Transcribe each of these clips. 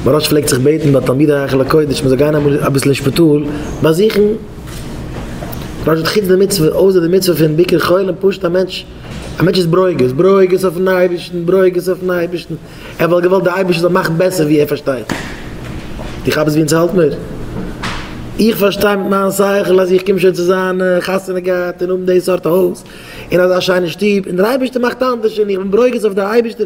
מוהראש פלעגט זיך בעטן ביי תלמידי היכל הקודש מ'זאל גיין אמאל אביסל אין שפיטאל באזוכן פשוט חוץ די מצוה, אויסער די מצוה פון ביקור חולים, פשוט א מענטש, א מענטש איז ברוגז, ברוגז אויפן אייבערשטן, ברוגז אויפן אייבערשטן, ער וואלט געוואלט די אייבערשטער זאל מאכן בעסער ווי ער פארשטייט, איך האב עס ווי אונז האלט מיר, איך פארשטיי מיט מיין שכל אז איך קום שוין צו זיין, חתונה געהאט און האבן די סארט הויז און אזא שיינע שטוב, און דער אייבערשטער מאכט אנדערש און איך בין ברוגז אויף די אייבערשטער.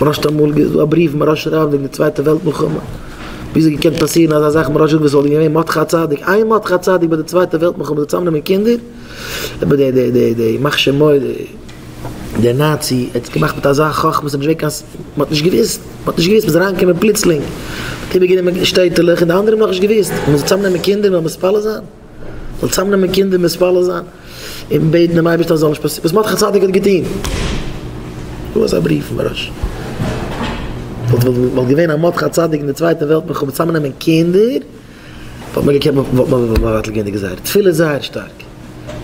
מ'ראשט אמאל איז דא א בריוו מ'ראשט שרייבן וועגן די צווייטע וועלט מלחמה, ווי איז געקענט פאסירן אזא זאך מ'ראשט וואס וואלט געווען מות ח צדיק, איין מות ח צדיק ביי די צווייטע וועלט מלחמה זאל צוזאם נעמען קינדער, אבער די די די די ימח שמו די נאצי האט עס געמאכט מיט אזא חכמה ס'נישט געווען קיין מ'האט נישט געוויסט מ'האט נישט געוויסט מ'איז אריין געקומען פלוצלינג מ'האט איבער גענומען שטעטעלעך און די אנדערע האבן נאכנישט געוויסט מ'זאל צוזאם נעמען קינדער מ'זאל מתפלל זיין. זאל צאמנעמען קינדער מתפלל זיין און בעטן דעם אייבערשטען אז עס זאל נישט פאסירן וואס מרדכי צדיק האט געטון, דא אזא בריוו פון רש י, וואלט וואלט געווען א מרדכי צדיק אין די צווייטע וועלט מלחמה צאמנעמען קינדער, וואלט מען געקענט וואלט מען מבטל געווען די גזירה, תפילה איז זייער שטארק,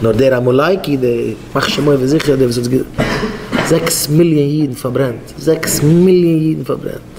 נאר דער עמלקי דער מאכט שמועה ווי זיכער דער וואס האט זעקס מיליאן אידן פארברענט, זעקס מיליאן אידן פארברענט.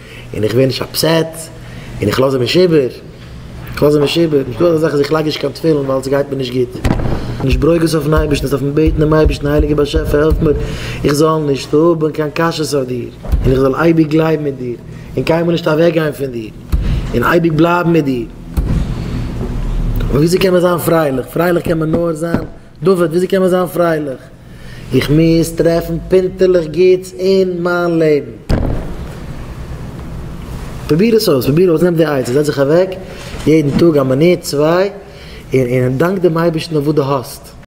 און איך ווער נישט אפסעט, און איך לאז אים נישט איבער, איך לאז אים נישט איבער, נישט דא אזא זאך אז איך לייג נישט קיין תפילין ווייל עס גייט מיר נישט גוט, נישט ברוגז אויפן אייבערשטן, עס דארפן בעטן דעם אייבערשטן, הייליגער באשעפער העלף מיר איך זאל נישט האבן קיין קשיות אויף דיר, און איך זאל אייביג גלייבן אין דיר, און קיינמאל נישט אוועק גיין פון דיר, און אייביג בלייבן מיט דיר. אבער וויאזוי קען מען זיין פרייליך? פרייליך קען מען נאר זיין. דוד, וויאזוי קען מען זיין פרייליך? איך מוז טרעפן פינטעלעך גוטס אין מיין לעבן. פרוביר עס אויס, פרוביר אויס, נעם די עצה, זעץ זיך אוועק יעדן טאג א מינוט צוויי און דאנק דעם אייבערשטן אויף וואס דו האסט.